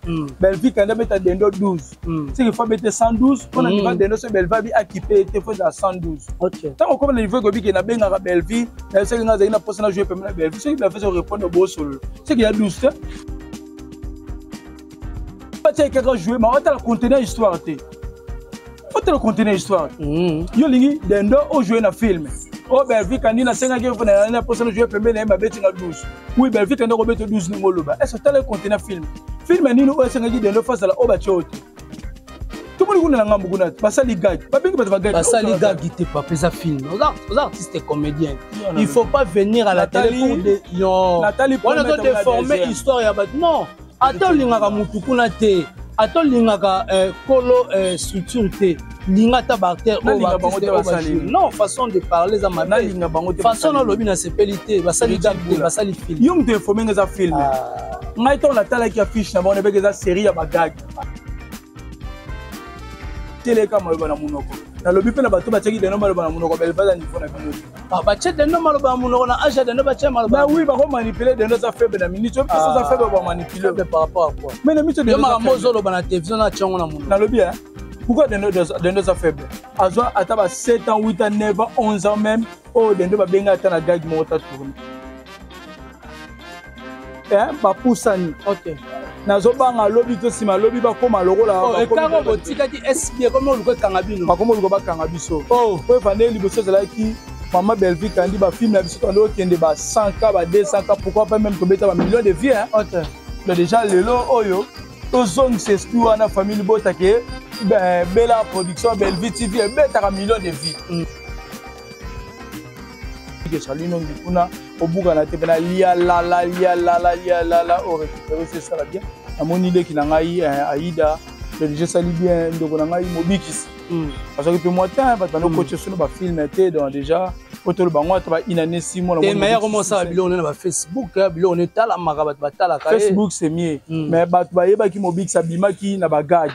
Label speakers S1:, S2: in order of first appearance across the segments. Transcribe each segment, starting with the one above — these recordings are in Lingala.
S1: Mm. Bellevue kanda beta dendo 12 mm. seke fo bete 112 mpona mm. niva dendo so bellevue abi akipe ete fo ezala 112 ntango okoma na
S2: niveau ekobi ke
S1: nabengaka bellevue nayo soki nga azali na mposa na joue pembe na bellevue soki bellevue so répondre bosolola soki ya 12 te batia kaka joue ma otala conteneur histoire te otala conteneur histoire te mm. yo olingi dendo ojoue na filme o oh, belvi kandi nasengaki na mposa nojoue pembeni na ye mabetinga 12 wi belvi kandi akobeta 12 ndenge oloba ese otala conteneur filme filme nini oyo esengaki dendo fasala oyo batye oyo te tomoni kuna na ngambo kuna basali gage babengi bato bagage basali gage te papa
S2: eza film oza artiste comédien il faut pas venir à la télé pour des non wana to
S1: déformer
S2: histoire ya bato non ata olingaka mutu kuna te ata olingaka eh, kolo eh, structure te linga ata baacteur non façon de parler eza mafaçon nalobi nasepeli te basali date te basali film yo moto informe nga eza film
S1: ah. ngai ntango natalaki affiche na bango nabeke eza série ya bagage teleka maloba na monoko nalobi mpe na bato batiaki deno maloba na monoko belevada niveau na bino ah, batie deno
S2: maloba na monoko na age ya deno batie maloba oui bakomanipule deno
S1: eza faible na minute oyo eza faible ah, bamanipule par rapport à quoi mais
S2: na miso yo makambo
S1: ozoloba na télévision
S2: na tia yango na monoko nalobi hein
S1: pourquoi dendo eza faible azwa ata ba 7 ans 8 ans 9 ans 11 ans même oyo dendo babenga ata na gage moko ta tourne eh, bapusani okay.
S2: nazobanga
S1: lobi to nsima lobi bakóma lokola oh, ekango botikaki
S2: espi ekomi oluka ekanga bino bakóma oluka bakanga biso
S1: oh. po evandeli liboso ezalaki mama bellevie kandi bafilme ya biso tobandi kokende ba 100 ka ba 200 ka pourquoi pas même tobeta ba million de vie hein? okay. donc déjà lelo oyo tozongisa esprit wana famille libota ke bela production bellevie tv ebetaka million de vie mm. ezali nongi kuna obukana te mpena lialala lialala lialala o récupéré se esala bien namoni leki na ngai eh, aida belge esali bien ndeko na ngai mobikisi hmm. azwaki mpe mwa tin bato bando koce hmm. solo bafilme te donc déjà po toloba yango ata bainane si mwanameye yango mosala biloko
S2: ne na bafacebook eh, biloko ne etalamaka bato batalaka eh. facebook c'est mieux hmm.
S1: mais bato bayebaki mobikisi abimaki na bagage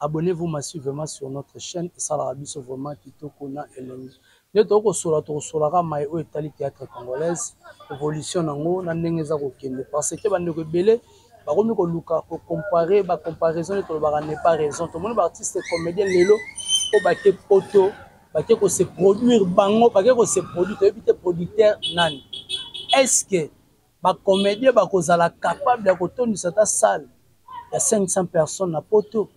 S2: Abonnez vous massivement sur notre chaine esalaka biso vraiment kitoko na elengi nde tokoki kosola tokosolaka mai oyo etali théâtre congolaise évolution nango na ndenge eza kokende parce que bandeko ebele bakomi koluka kocompare bacomparaison nde tolobaka ne pas raison tomoni baartiste comédien lelo oyo bake poto bake kose produire bango bake kose produire toyebi te producteur nani est ce que Ba comediens bakozala capable ya kotondisa ata salle ya 500 personnes na poto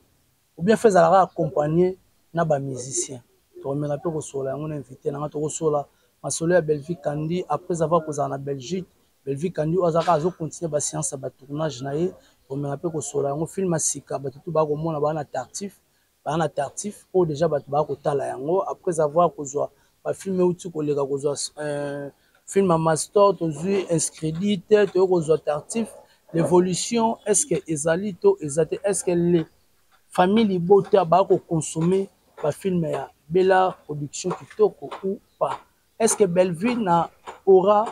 S2: ou bien fe ezalaka accompagner na ba musiciens tokomeka mpe kosola yango na invité na nga tokosola masolo ya Bellevue Kandi après avoir kozala na Belgique Bellevue Kandi oyo azalaka azo continuer ba science ya ba tournage na ye tokomeka mpe kosola yango film ya sika bato tu bakomona baa na tartif baa na tartif oyo deja bato baa kotala yango après avoir kozwa bafilme euti koleka kozwa euh, film ya mastor tozwi inscredit toyei kozwa tartif l'évolution est ce que ezali to eza te est ce que le famille libota baa kokonsome bafilme ya bela production kitoko ou pas est ce que bellevue na aura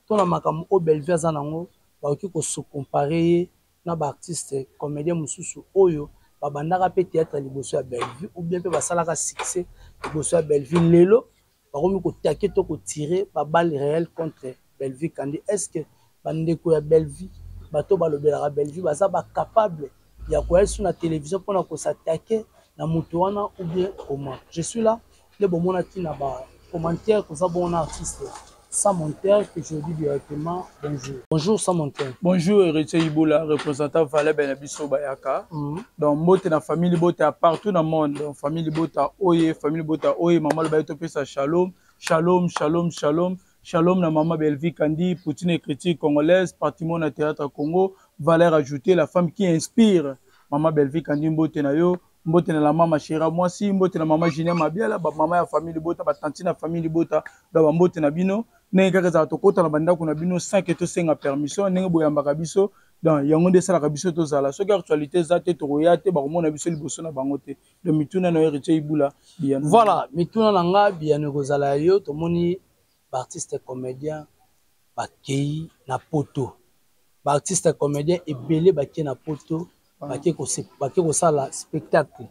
S2: to na makambo oyo bellevue aza na yango bakoki kosokompare ye na ba artistes comediens mosusu oyo ba bandaka pe theatre liboso ya Bellevue ou bien pe ba salaka succès liboso ya Bellevue lelo ba komi ko taquer to ko tirer ba balles reelles contre Bellevue Kandy est ce que ba ndeko ya Bellevue bato oyo ba lobelaka Bellevue baza ba capables ya koya lisusu na television pona ko s'attaquer na moto wana ou bien comment? Je suis là. nde bomonaki na ba commentaire koza bongo na artiste sans monteur que je dis directement bonjour bonjour sans monteur bonjour héritier
S1: ibola représentant valable na biso bayaka mm -hmm. donc mbote na famille libota partout na monde donc famille libota oye famille libota oye mama lobaye topesa shalom shalom shalom shalom shalom na mama bellevie kandi poutine écriture congolaise patrimoine na théâtre congo valeur ajoutée la femme qui inspire mama bellevie kandi mbote na yo mbote na la mama shera mwasi mbote na mama julien mabiala bamama ya famille libota batanti na famille libota na bambote na bino ndenge kaka ezala tokota na bandako na bino sanke tosenga permission ndenge boyambaka biso donc yango nde esalaka biso tozala soki actualité eza te tokoya te bakomona biso liboso na bango te donc mituna na yo héritier ibula biyano voilà mituna na
S2: nga biyano ekozala ya yo tomoni ba artistes comediens bakeyi na poto ba artistes comediens ebele bake na poto bake kosala spectacle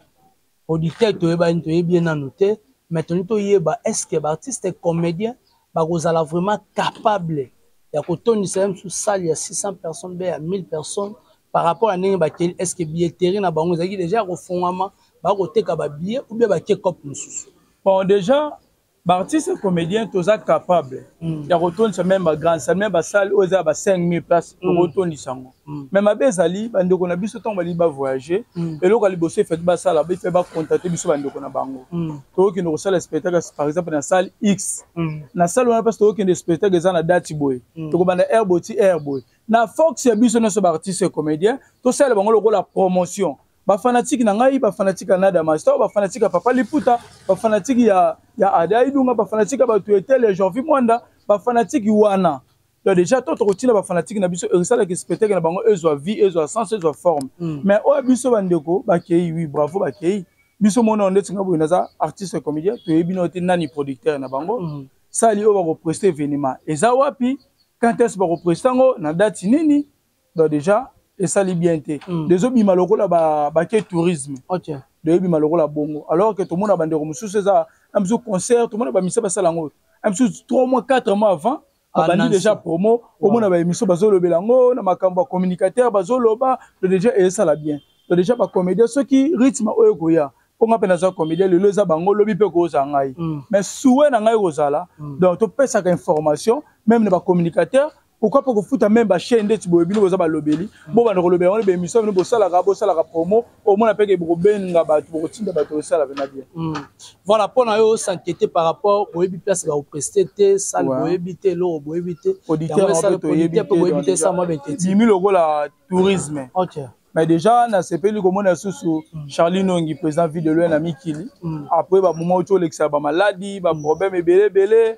S2: producteur toyebani toyebi ye nanu te mais tolingi toyeba est ce que ba artistes comediens bakozala vraiment capable ya kotondisa ye mosusu salle ya 600 personnes be ya 1000 personnes par rapport ya ndenge bakeli est ce que billetterie na bango ezalaki deja ya kofongwama bakoteka ba billet ou bien bake cope mosusu bon deja
S1: ba artistes comédiens toza capable mm. ya kotondisa meme ba grande salle meme basale oyo eza ya ba 5000 place mm. okotondisa yango mm. me mabe ezali bandeko na biso ntango balingi bavoyage mm. eloko ya liboso efati basala bife bakontate biso bandeko na bango mm. tokokende kosala spectacle par exemple na salle x mm. na salle wana mpasi tokokende spectacle eza na dati boye mm. tokobanda air boye ti air boye na fox ya biso nyonso baartiste comédien tosala bango lokola promotion ba fanatique na ngai ba fanatique ya Nada Master ba fanatique ya Papa Liputa ba fanatique ya ya Ada Idunga ba fanatique ya batu etel ya Jorvi Mwanda ba fanatique wana donc déjà to tokotina ba fanatique na biso esalaki spectacle na bango ezwa vie ezwa sens ezwa forme mm. mais oyo biso bandeko bakei oui bravo bakei biso mona onde tinga boye naza artiste comédien toyebi na te nani producteur na bango mm. sali oyo bakopreste événement eza wapi quand est-ce bakopreste yango na date nini donc déjà esali bien te mm. dezobima lokola bake ba tourisme okay. doyebima
S2: lokola
S1: bongo alors que tomona bandeko mosusu eza un bisu concert tomona bamisa basala yango un bisu 3 mois 4 mois avant abandi déjà promo omona baémission bazolobela yango na makambo ya communicateur bazoloba to déjà esala bien to déjà bacomédien soki rythme oyo ekoya mpo ngai mpe naza comédien lelo eza bango lobi mpe kozala ngai mm. mais souwe na ngai kozala mm. donc topesaka information même na bacommunicateur pourquoi pas kofuta meme bachaine ndeti boye bino boza balobeli bobanda kolobela wana baémission bino bosalaka bosalaka promo omona mpeke bokobenga bato bokotinda bato osala pena bien hmm. voilà mpo na
S2: yo s'inquiéter par rapport boyebi place bakopreste te sale boyebi te eloko boyebi te auditeur boyebi te esala mwa betebimi lokola
S1: tourisme okay. mais
S2: déjà
S1: nasepeli komona lisusu hmm. charlie nongi président ville de loin na mikili hmm. après bamoment oti olekisa bamaladi baproblème ebele ebele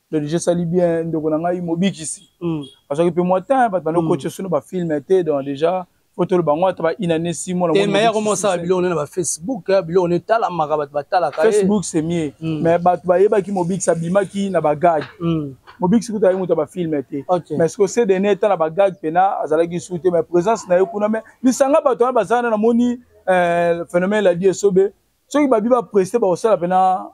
S1: Dodge esali bien ndeko na ngai mobikisi mm. azwaki mpe mwa temps bato bando koce mm. sino bafilme te donc déjà fo toloba yango ata bainane si monameyakomosala biloko
S2: ne na bafacebook eh, biloko ne etalamaka bato batalaka eh. facebook c'est mieux mm.
S1: mais bato bayebaki mobikisi abimaki na bagage mobikisi kutu ayi moto ya bafilme te mais siko cdn eta na bagage mpena azalaki su te mais présence na ye kuna mais lisanga bato wana bazalana namoni eh, phénomène ladi esobe soki babi bapreste bakosala mpena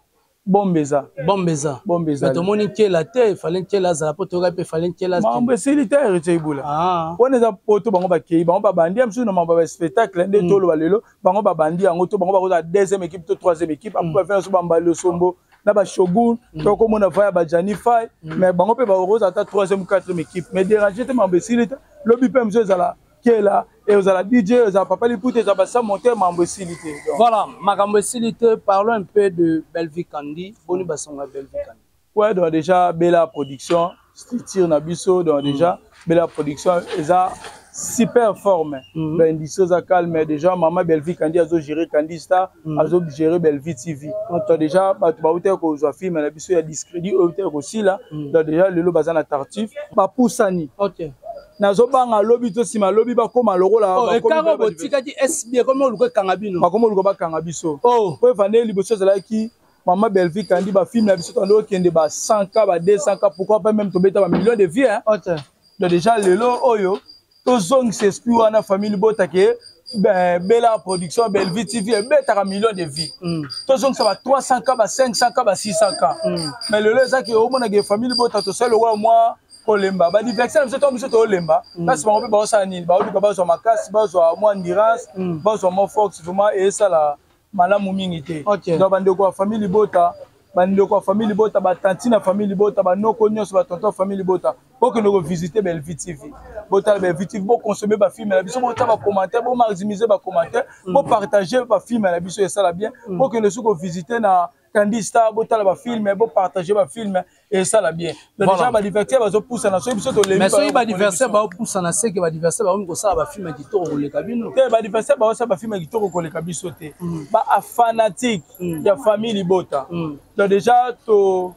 S1: bombe eza bombe eza bombe
S2: eza tomoni nkela te efale nkela azala mpo toyoka mpe efale nkela mambo esili te heritier
S1: ibula ah. wana eza poto bango bakei bango babandi ya mosusu na mambo ya spectacle nde mm. toloba lelo bango babandi yango to bango bakozala deuxième équipe to troisième équipe apo bafina so bambali osombo na bashogun mm. tokomona vaya bajani fai mm. mais bango mpe bakozala ata troisième quatrième équipe mais dérange te mambo esili te lobi mpe mosusu ezala kela ezala dj ezala papa liputa ezala basa monter mambo esili te voilà makambo
S2: esili te parlons un peu de bellevue kandi boni basongo ya bellevue kandi ouais donc déjà
S1: bela production structure na biso donc mm. déjà bela production eza super forme mm -hmm. bendiso eza calme déjà mama bellevue kandi azo gérer kandi star mm -hmm. azo gérer bellevue tv okay. donc déjà bato bautaki kozwa filme na biso ya discrédit oyo utaki kosila mm -hmm. donc déjà lelo baza na tartif bapusani okay.
S2: nazobanga
S1: lobi to nsima lobi bakoma lokola oh, ekanga botikaki
S2: sb ekoma oluka ekanga bino bakoma oluka bakanga biso
S1: oh. po evandeli liboso ezalaki mama bellevie kandi bafilme na biso tando okende ba 100 ka ba 200 ka pourquoi pas même tobeta ba million de vie hein? okay. donc déjà lelo oyo tozongisa esprit wana famille libota ke ben, bela production bellevie tv ebetaka million de vie mm. tozongisa ba 300 ka ba 500 ka ba 600 ka mm. mais lelo ezaki omonaka famille libota tosali lokola mwa kolemba badiverse na biso ntango biso tolemba kasi mm. bango mpe baosala nini baoluka bazwa makasi bazwa mwa ndirance mm. bazwa mwa force vraimen esala malamu mingi te donc bandeko ya famille libota bandeko ya famille libota batanti na famille libota banoko nyonso batonton ya famille libota bokende kovisite bellevue tv botala bellevue tv boconsommer bafilme na biso botya bacommentaire bomaximise bacommentaire mm. bopartage bafilme na biso esala bien bokende soki kovisite na mm. Candy Star botala ba films bo partager ba films et ça la bien. Donc voilà. déjà ba divertir bazo poussa na soki biso to lembi. Mais soki ba
S2: divertir ba poussa na seke ba divertir ba ko sala ba films kitoko koleka bino. Te ba divertir ba sala
S1: ba films kitoko koleka biso te. Mm. Ba fanatique mm. ya famille libota. Mm. Donc déjà to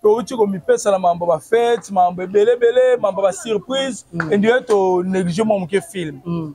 S1: touti komipesa na mambo ba fete mambo ebelebele mambo ba surprise mm. endie to néglige mwa moke film mm.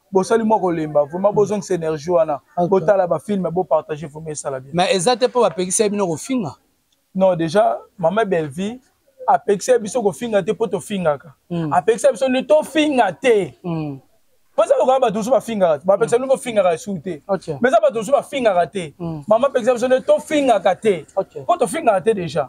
S1: bosali mwa kolemba vraiment bozongisa énergie wana botala bafilme bopartage vraiment esala bien mais eza te mpo bapekisa
S2: ye bino kofinga non déjà
S1: mama bellevie apekisa biso kofinga te mpo tofingaka hmm. apekisa biso nde tofinga te hmm. mpo eza lokola bato mosusu bafingaka te bapekisa bino bofingaka esu te mais eza bato mosusu bafingaka te hmm. mama apekisa biso nde tofingaka te mpo tofingaka te déjà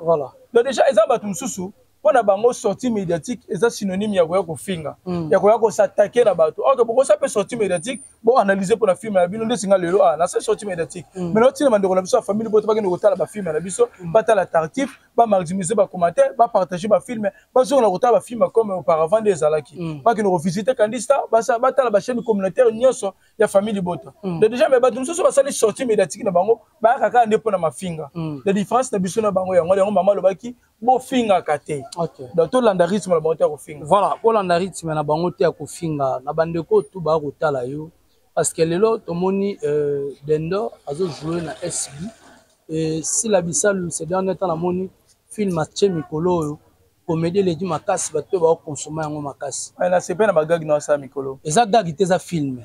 S1: donc déjà eza bato mosusu mpo na bango sortie médiatique eza synonyme ya koya kofinga mm. ya koya kosatake na bato ok bokosa mpe sortie médiatique boanalyse mpo na filme na bino nde singa lelo a ah, na se sortie médiatique mm. mais naotina bandeko na biso ya famille boto bakende kotala bafilme na biso mm. batala tartif bamaximise bacommentaire bapartage bafilme bazongela kotala bafilme comme auparavant nde ezalaki mm. bakende kovisite kandista batala bachaîne communautaire nyonso ya famille libota mm. de déjà mais bato mosusu basali sortie médiatique na bango bayaka kaka nde mpo na mafinga mm. la différence na biso na bango yango yango mama alobaki bofingaka te okay. donc tolanda rythme na bango te ya kofinga voilà kolanda rythme
S2: na bango te ya kofinga na bandeko tu baya kotala yo parce que lelo tomoni euh, dendor azojoue na sb e sila bisalu se dernier temps namoni film atie mikolo oyo komedi eleki makasi bato mpe bakokonsoma yango makasi nasepeli na bagagi
S1: na osala mikolo eza gagi te eza
S2: filme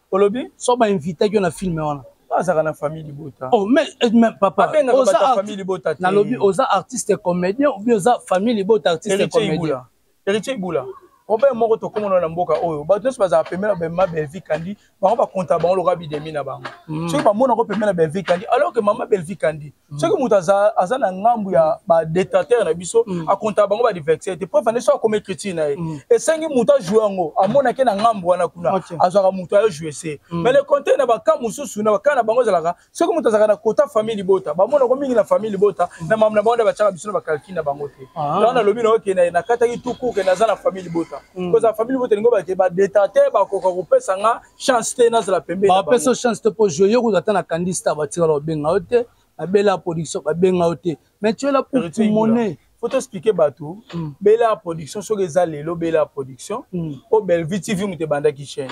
S2: olobi so ba
S1: invitaki yo na
S2: film wana azaka na
S1: famille libota oh mais eh, mais
S2: papa abenga oza ta famille
S1: libota na lobi oza artiste
S2: comédien ou bien oza famille libota artiste comédien héritier ibula
S1: problème moko tokomona na mboka oyo bato nyonso bazala pemela bamema belvi kandi bango bakonta bango lokola bidemi na bango mm. soki bamonako pemela belvi kandi alors que mama belvi kandi Mm. soki moto aza, aza na ngambu ya badetrateur na biso mm. akontaka bango badiverse te preuve ande soki akoma écriture na ye mm. esengi moto ajoue yango amonake na ngambu wana kuna okay. azwaka moto ayo joue se mm. mais le contraire na baka mosusu na baka na bango ezalaka soki moto azalaka na kota famille libota bamonako mingi na famille libota mm. na mamu na bango nde batyaka biso na bacalcule na bango te ah. yango nalobi nayo ke nakataki tuku ke naza na famille libota mm. kozala famille libota elingi obake badetrateur bakoka kopesa nga chance te nazala pembe bapesa yo chance te mpo
S2: jeu yo kutu ata na kandi star batikala babenga yo te na bela production babenga yo te mais tu es là pour timone faut toexplike bato
S1: mm. bela production soki eza lelo bela production mm. mpo bellevue tv moto ebandaki chaîne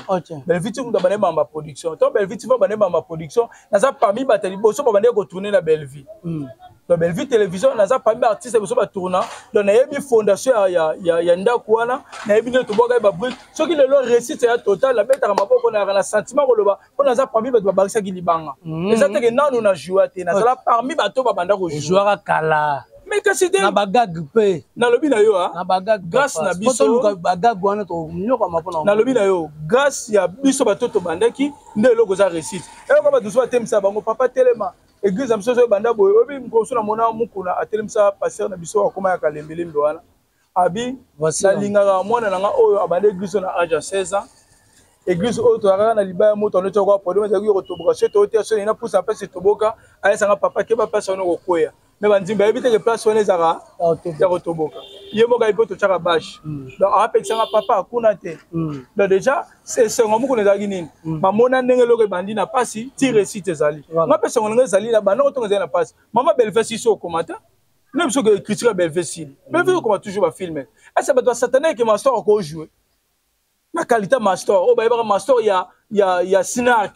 S1: bellevue tv moto abandaki bamba production to bellevue tv abandaki bamba production naza parmi bato ya liboso babandaki kotourne na bellevue mm. na bellevue télévision naza parmi baartiste ya biso batourna donc nayebi fondation ya, ya, ya, ya ndako wana nayebi nde tobwaka ye babrike soki lelo réussite ya total nabetaka maboko nayaka na sentiment koloba mpo naza parmi bato babakisaki libanga mm. eza teke nanu na joua te nazala parmi bato babanda kojuaka kala
S2: mais kasi te na
S1: bagag mpe
S2: nalobi na yo ah. na
S1: bagag grâce na
S2: biso
S1: bagag wana
S2: tonyokama mpona nalobi na yo
S1: grâce ya biso bato tobandaki nde eloko eza réussite eyoka bato mosusu batemisa bango papa telema eglise na biso ezo ebanda boye oyebi mokolo mosusu namona mokuna atelemisa pasteur na biso akoma ya kalembelembe wana abi nalingaka mwana na nga oyo abanda eglise na age ya 16 ans eglise oyo toyakaka na libaya moto anoti akoa problème ezalaki yo kotoboka soki toyoti ya soni na pusa mpasi toboka ayesanga papa keba mpasi wana okokweya me banzimbi bayebi teke place wana ezalaka ya kotoboka ye moko ayebi mpo totyaka bashe hmm. donc apekisanga papa kuna te hmm. donc déjà esengo mokuna ezalaki nini mm. bamona ndenge eloko ebandi na mpasi ti resite ezali nga mpe esengo ndenge ezali na banda kotonga ezali na mpasi mama belvesi iso okoma te na biso ke critique ya belvesi mm. belvesi okoma toujours bafilme ese bato basatana eke mastor akojoue na kalita mastor oyo bayebaka mastor ya, ya, ya snark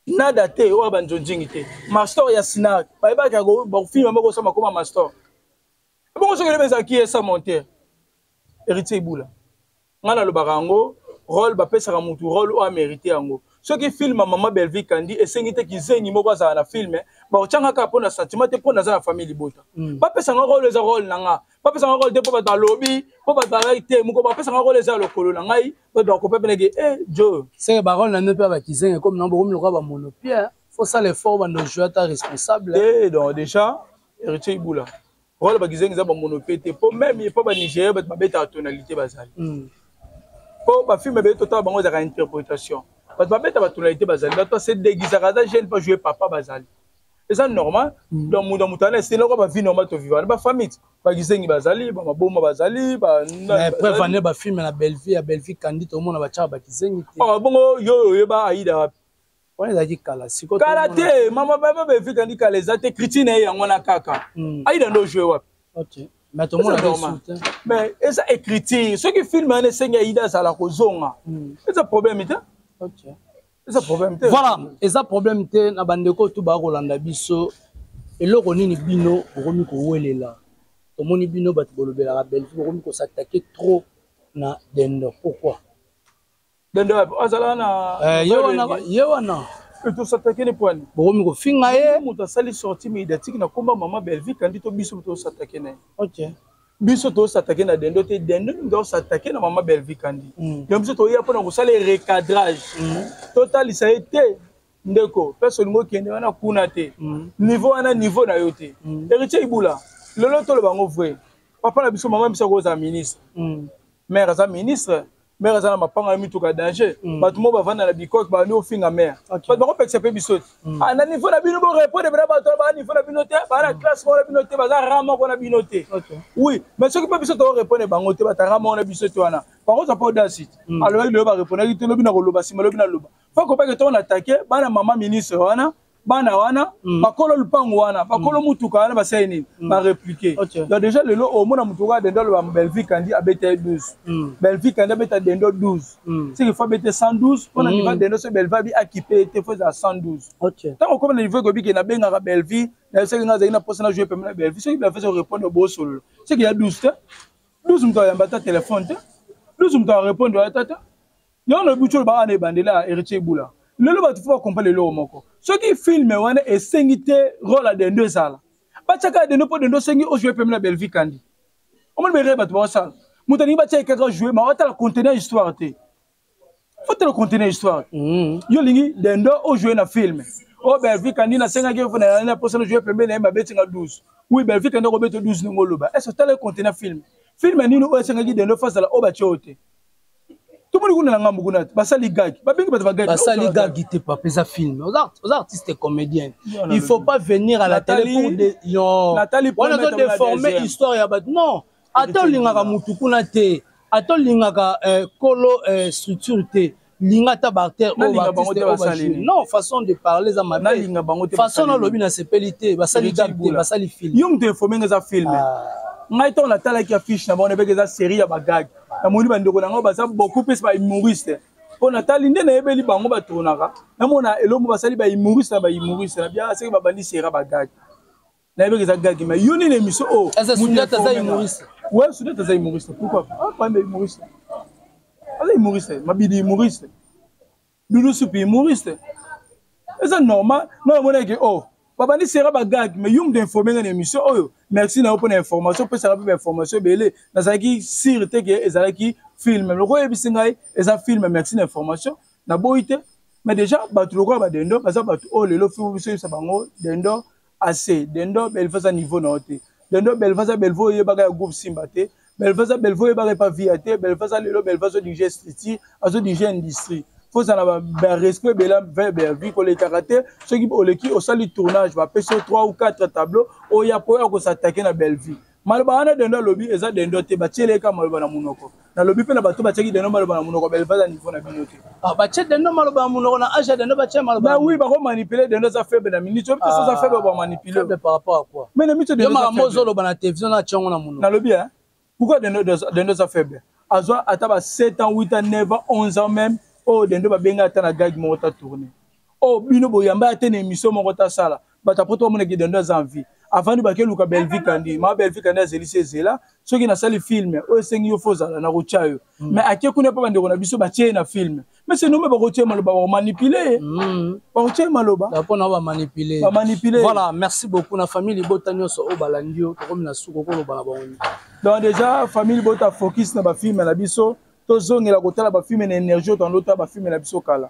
S1: nada te oyo ya banjonjingi te mastor ya snark bayebaka bafilme moko osama koma mastor bongo soki elebe ezalaki esa monter héritier ibula ngai nalobaka yango role bapesaka mutu role oyo amerite yango soki film ya mama bellevie kandi esengi te kizengi moko azala na filme baotyanga kaka mpo na sentiment te mpo naza na famille libota mm. bapesanga role eza role na nga bapesanga role te mpo bato balobi mpo bato bazalaki te moko bapesanga role eza ya lokolo na ngai bato bakopa peneke e eh, jo seke barole na nde mpe
S2: ya bakizengi ekomi nango bokomi lokola bamonopia fosala effort bando joi ata responsable te eh, donc déjà
S1: héritier ibula Wala bakizengi za bamono pe te po meme epa ba Nigeria bato babetaka tonalité bazali mm. po bafilme ebele totala bango ezalaka interprétation bato babeta batonalité bazali bato base degisaka aza jeune pa joue papa bazali eza normal mm. donc moto ya moto ana esili oko bavi normal tovivana bafamite bakizengi bazali bamaboma bazali preuve ane
S2: bafilme na bellevie ya bellevie kandi tomona batyaka bakizengi te oh, bongo yo oyeba
S1: aida wapi wana ezalaki kala
S2: sikoyo kala te mama
S1: baba bevika ndi kala eza te kriti na ye yango wana kaka hmm. aida nde ojue wapi mais eza écriture soki filme wana esengi aida azala kozonga hmm. eza problème te eza problème te voilà eza problème
S2: te na bandeko oyo tu baya kolanda biso eloko nini bino bokomi kowelela tomoni bino bato bolobelaka bellevue bokomi kosatake trop na dendo pourquoi dende
S1: wapi azala na eh, ye wana ye wana
S2: tosatakeli
S1: pwani bokomi kofinga ye
S2: moto asali sorti
S1: médiatique na komba mama belvie kandi to biso tosatake na ye okay. biso tosatake na dendo te dendo mingi osatake na mama belvie kandi mm. ya biso toya mpona kosala recadrage mm. totalisa ye te ndeko place olingi okende wana kuna te mm. niveau wana niveau na yo te mm. héritier ibula lelo toloba yango vrai papa na biso mama biso akozala ministre mm. mare aza ministre mère aza na mapanga na mituka ya danger mm. bato moko bavanda na bikoke babandi kofinga mère bato bakopekisa mpe biso te mm. ah, na niveau na bino borepondre mpena bato na baa niveau na bino te baa na mm. classe moko na bino te baza ra moko na bino te oui mais soki mpe biso tokorepondre bango te bata ra moko na biso te wana bango oza mpe odasite alobaki loyo barepondaki te lobi na koloba nsima lobi na loba fo kopake ntongo na atake bana mama ministre wana bana wana mm. bakolo lupangu wana bakolo mm. mutuka wana basali nini mm. bareplike okay. donc déjà lelo omona oh, mutu kaka dendo aloba belvie kandi abeta ye 12 mm. belvie kandi abeta dendo 12 mm. siki fo abete 112 mpona mm. niva dendo so belvie abi akipe ye te fo ezala 112 okay. ntango okoma na niveau ekobike nabengaka belvie nayo soki nga azali na mposa na joue pembe na belvie soki belvie so répondre bosolola soki ya 12 te 12 moto ayamba ata telefone te 12 moto arépondre ata te yango na butu olobaka na ebandela ya heritier bula lelo bato fo bakomprendre eloko moko soki filme wana esengi te role ya dendo ezala batyaka ya dendo mpo dendo osengi ojoue pembe na belvie kandi omoni berere bato baosala moto alingi batya ye kaka joue ma otala contenu ya histoire te fotala contenu ya histoire mm. yo olingi dendo ojoue na filme o oh, belvie kandi nasengaki yo na mposa nojoue pembe na ye mabetinga 12 wi belvie kandi okobeta 12 ndenge oloba est ce otala ye contenu ya filme filme nini oyo esengaki dendo fo azala oyo batye oyo te tomoni kuna na ngambo kuna basali gagi babengi bato bagagi basali gagi te papa
S2: eza film oza artiste comédien il faut pas venir à la télé pour de yo wana
S1: ozo déformer
S2: histoire ya bato non ata olingaka motu kuna te ata olingaka eh, kolo eh, structure te linga ata baacteur non façon de parler eza mabefaçon nalobi nasepeli te basali gag te basali film yo moto informe nga eza
S1: film ah. ngai ntango natalaki affiche na bango nabeke eza série ya bagage namoni bandeko na ngai baza beaucoup plus ba humoriste mpo natali nde nayebeli bango batournaka namona elombo basali ba humoriste na ba humoriste na bia seke babandi sera bagage nayebeki eza gage ma yo nini émission oyo oh, eh, sudete aza humoriste
S2: ouais sudete aza
S1: humoriste pourquoi ah pambe humoriste aza humoriste mabidi humoriste doudou supi humoriste eza normal nga namonaki o oh, babandi sera bagag mais yo moto informe nga na émission oyo oh, merci na yo mpo na information opesaka mpe bainformation ebele nazalaki sire te ke ezalaki filme loko oyebisi ngai eza filme merci na information naboyi te mais déjà bato lokola badendo baza bato oyo oh, lelo biso yebisa bango dendo Assez. Dendo Belva za niveau na ote. Dendo Belva za Belva oyebaka ya groupe Simba te. Belva za Belva oyebaka pa via te. Belva za lelo Belva zo dirige structure, azo dirige industrie. Faut ça na ba, ba respect bela verbe vie ko lekaka te. Soki oleki osali tournage ba peso 3 ou 4 tableaux oya po ya ko s'attaquer na Bellevue. maloba wana dendo alobi eza dendo te batiele ye kaka maloba na monoko nalobi mpe na bato batiaki dendo maloba na monoko belevage ya niveau na bino te ah, batie dendo maloba
S2: na monoko na age ya dendo batie maloba oui bakomanipule
S1: dendo eza faible na minute oyo biso eza faible bamanipule par rapport à quoi
S2: mais na miso dendo makambo
S1: ozoloba na
S2: télévision na atiango na monoko nalobi hein pourquoi
S1: dendo dendo eza faible azwa ata ba 7 ans 8 ans 9 ans 11 ans même oyo oh, dendo babenga ata na gag moko ta tourner oh bino boyamba ya te na émission moko tasala bato apoto bamona kidando aza en vie avandi bake luka belvi kandi ma belvi kandi azelisi ezela soki nasali filme oyo esengi yo fo ozala nakotya yo mm. mais ake kuna mpo bandeko na biso batye ye na filme mais se nome bakotya ye maloba bakomanipule ye mm. bakotya ye maloba mpona bamanipule
S2: bamanipule voilà merci beaucoup na famille libota nyonso oyo balandi yo tokomi na suku okoloba na bango donc déjà
S1: famille libota focus na bafilme na biso tozongela kotala bafilme na énergie otandotala bafilme na biso kala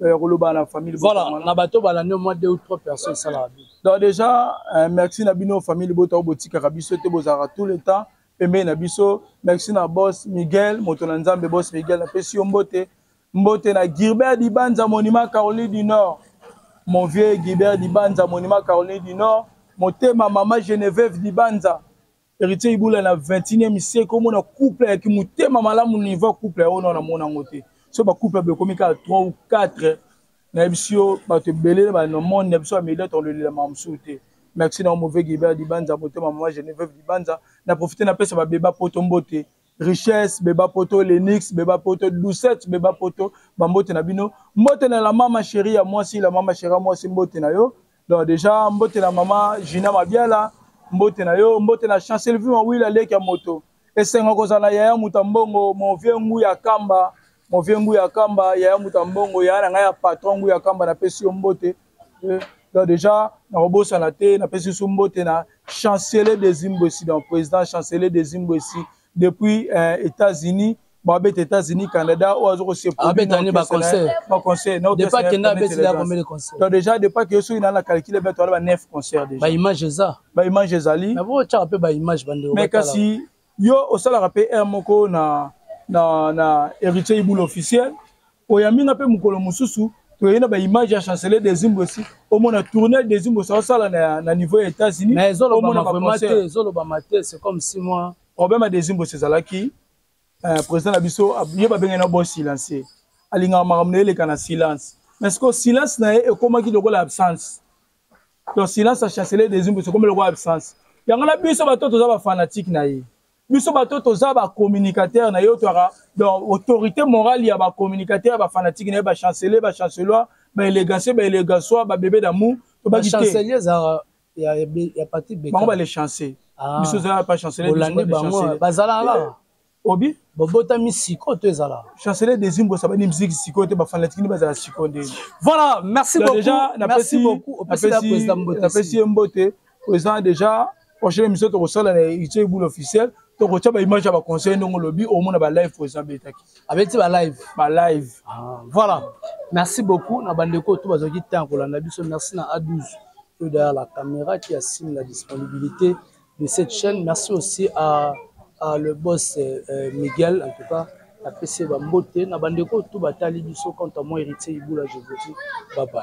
S1: ya koloba na famille voilà na bato balandi
S2: mwa deux ou trois personnes esalaka bien donc déjà
S1: euh, merci na bino famille bota oyo botikaka biso te bozalaka tout le temps pembeni na biso merci na boss miguel moto na nzambe boss miguel napesi yo mbote mbote na gilbert dibanza monima caroline du nord mon vieux gilbert dibanza monima caroline du nord motema mama geneveve dibanza Heritier Ibola na 21e siècle omona couple ya kimutema malamu niveau couple ya ona na mona ngo te. So ba couple ba komi ka 3 ou 4 na yebisi yo bato ebele ba na monde na biso ya media to lelela mamsu te. Merci na mauvais Gilbert Dibanza motema maman Geneviève Dibanza na profiter na pesa ba beba poto mbote. Richesse beba poto Lenix beba poto Doucette beba poto ba mbote na bino. Mbote na la mama chérie ya mwasi la mama chérie mwasi mbote na yo. donc déjà mbote na mama Gina Mabiala mbote na yo mbote na chancel vima wila leki ya moto esengo kozala na yaya muta mbongo mon vieux ngu ya kamba mon vieux ngu ya kamba yaya muta mbongo yaya na ngai ya patron ngu ya kamba napesi yo mbote eh, donc déjà nakobosana te napesi biso mbote na chancelier desimbwesi donc président chancelier desimbwesi depuis euh, États-Unis babeta États-Unis Canada oyo azo kosepabeta nde baconcert
S2: baconcert depa kenda
S1: abeti da
S2: combien de concert donc déjà depa ke soki
S1: na na calcule beto ala ba 9 concert déjà ba image eza ba
S2: image ezali na bo
S1: tshaka pe ba
S2: image bande mais kasi
S1: yo osalaka pe heure moko na na na héritier iboule officiel oyambi nga mpe mokolo mosusu toyei na baimage ya chancelier desimbwesi omona tournel desimbwesi aosala na, na niveau ya états-unis omona
S2: baconcert te c'est comme si moi problème ya desimbwesi
S1: ezalaki euh, président na biso ye babengani na bo silencier alingaka makambo na ye eleka na silence mais sikoyo silence na ye ekomaki lokola absence to silence ya chancelier desimbwesi ekomi lokola absence yango na biso bato toza bafanatike na ye biso bato toza ba communicateur na yo toaka donc autorité morale ya ba communicateur ba fanatique na ye ba chancelier ba chancelois ba élégancier ba élégansois ba bébé d'amour tobaki te chancelier ezalaka
S2: ya, ya, ya parti beka bango ba les chancer
S1: ah. biso ezalaka pas chancelier olandi bango bazalaka
S2: kaka eh, obi
S1: bobotami siko
S2: to ezala chancelier désir mbosa
S1: bani miziki siko te bafanatiki nde bazala siko nde voilà merci
S2: beaucoup merci beaucoup
S1: opesi ye mbote oza déjà prochaine émission tokosala na ice boule officiel tokotya baimage ya baconseil ndenge olobi omona balive président abetaki abeti balive
S2: balive ah, voilà
S1: merci
S2: beaucoup na bandeko oyo to bazalaki ntan ya kolanda biso merci na a12 oyo derrière la caméra qui assigne la disponibilité de cette chaîne merci aussi à, à le boss euh, euh miguel en tout cas napesi ye bambote na bandeko oyo to batali biso quant à moi héritier ibula je vous dis bye bye